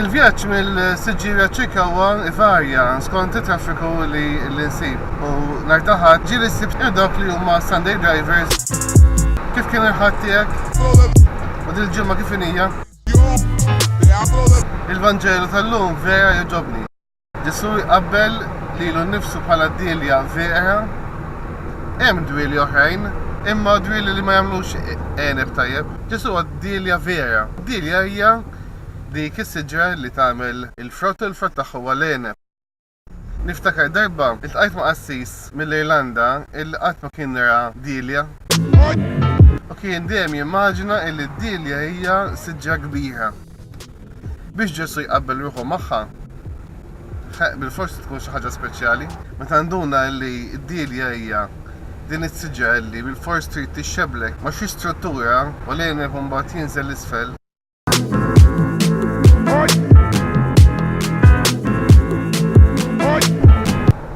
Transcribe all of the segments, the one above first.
Il-vjaġġ mill-Siġġieja Ċikawa ivarja skont it-traffiku li nsib u nhar ta' Ħadd ġieli ssib dawk li huma Sunday drivers kif kien il-Ħadd tiegħek u din il-ġimgħa kif inija. Il-Vanġelu tal-lum vera jogħġobni. Ġesù jqabbel lilu nnifsu bħala d-dielja vera. Hemm dwieli oħrajn, imma dwieli li ma jagħmlux għeneb tajjeb. Ġesù huwa d-dielja vera. Dielja hija dik is-siġra li tagħmel il-frott u l-frott tagħha huwa l-għeneb. Niftakar darba ltqajt ma' qassis mill-Irlanda illi qatt ma kien ra dielja. U kien dejjem jimmaġina illi d-dielja hija siġra kbira. Biex Ġesù jqabbel ruħu magħha, ħeqq bilfors tkun xi ħaġa speċjali. Meta nduna li d-dielja hija din is-siġra li bilfors trid tixxebblek ma' xi struttura u l-għeneb imbagħad jinżel 'l isfel,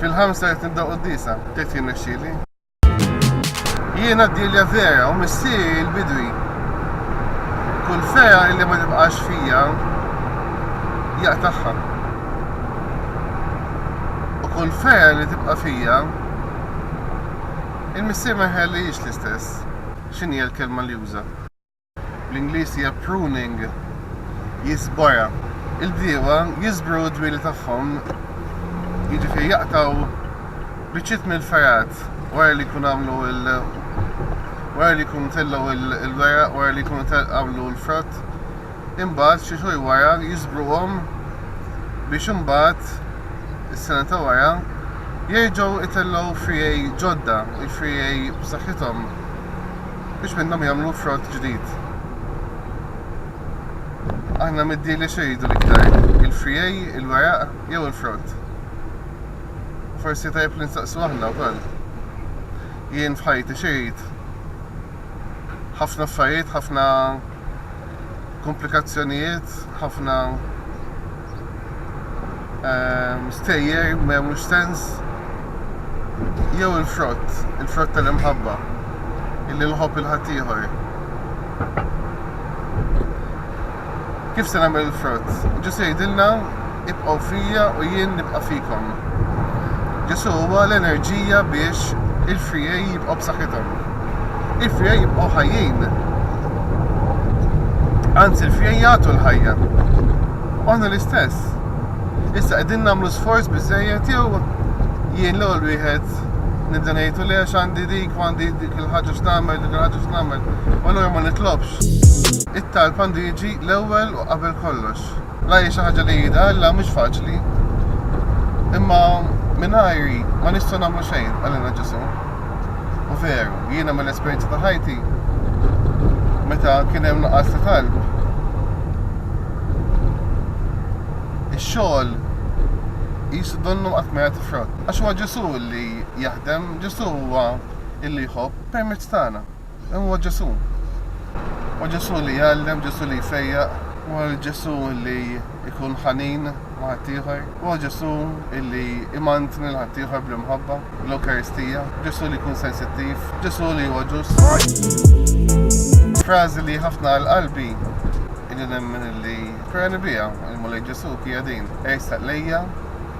fil-ħamsa qed nibda qudiesa, tgħid jirnexxieli? Jiena d-dirja vera u missieri l-bidwi. Kull fera illi ma tibqax fija jaqtagħha. U kull fera li tibqa' fija il-missier ma jħallihiex l-istess. X'inhi l-kelma li juża? bl-Ingliż hija pruning, jiżbora. Il-bdiewa jiżbru d-dwieli tagħhom, jiġifieri jaqtgħu biċċiet mill-fergħat wara li jkunu għamlu wara li jkunu tellgħu l-weraq, wara li jkunu għamlu l-frott, imbagħad xi xhur wara jiżbruhom biex imbagħad is-sena ta' wara jerġgħu itellgħu friegħi ġodda, il-friegħi b'saħħithom. biex minnhom jagħmlu frott ġdid. Aħna mid-dealers xejdu l-iktar, il-frijej, il-weraq jew il-frott? Forsi tajb li nsaqsu aħna wkoll. Jien f'ħajti xejt ħafna affarijiet, ħafna komplikazzjonijiet, ħafna ehm, stejjer ma jagħmlux sens jew il-frott, il-frott tal-imħabba illi nħobb il-ħaddieħor. Kif se nagħmel il-frott? Ġusi jgħidilna Ibqgħu fija u jien nibqa' fikom. Ġesù huwa l-enerġija biex il-frijaj jibqgħu b'saħħithom. Il-frijaj jibqgħu ħajjin. Anzi, il-frijaj jagħtu l-ħajja. U aħna l-istess. Issa qegħdin nagħmlu sforz biżejjed jew jien l-ewwel wieħed nibda ngħidu le għandi dik u għandi dik il-ħaġa x'nagħmel, dik il-ħaġa x'nagħmel, u allura ma nitlobx. It-talb għandu jiġi l-ewwel u qabel kollox. La hi xi ħaġa li jidha Alla mhux faċli. Imma mingħajri ma nistgħu nagħmlu xejn għalina Ġesu. U veru, jiena mill-esperjenza ta' ħajti meta kien hemm nuqqas ta' talb. Ix-xogħol jisu donnu qatt ma jagħti frott. Għax huwa Ġesu li jaħdem, Ġesu huwa illi jħobb permezz tagħna. Dan huwa Ġesù. Huwa Ġesù li jgħallem, Ġesù li jfejjaq, huwa Ġesù li jkun ħanin ma' ħaddieħor, huwa Ġesù li imantni lil ħaddieħor bl-imħabba, bl-Ewkaristija, Ġesù li jkun sensittiv, Ġesù li huwa ġust. Frażi li ħafna għal qalbi illi nemmen illi ferrani biha il-Mulej Ġesù hija din, Ersaq lejja,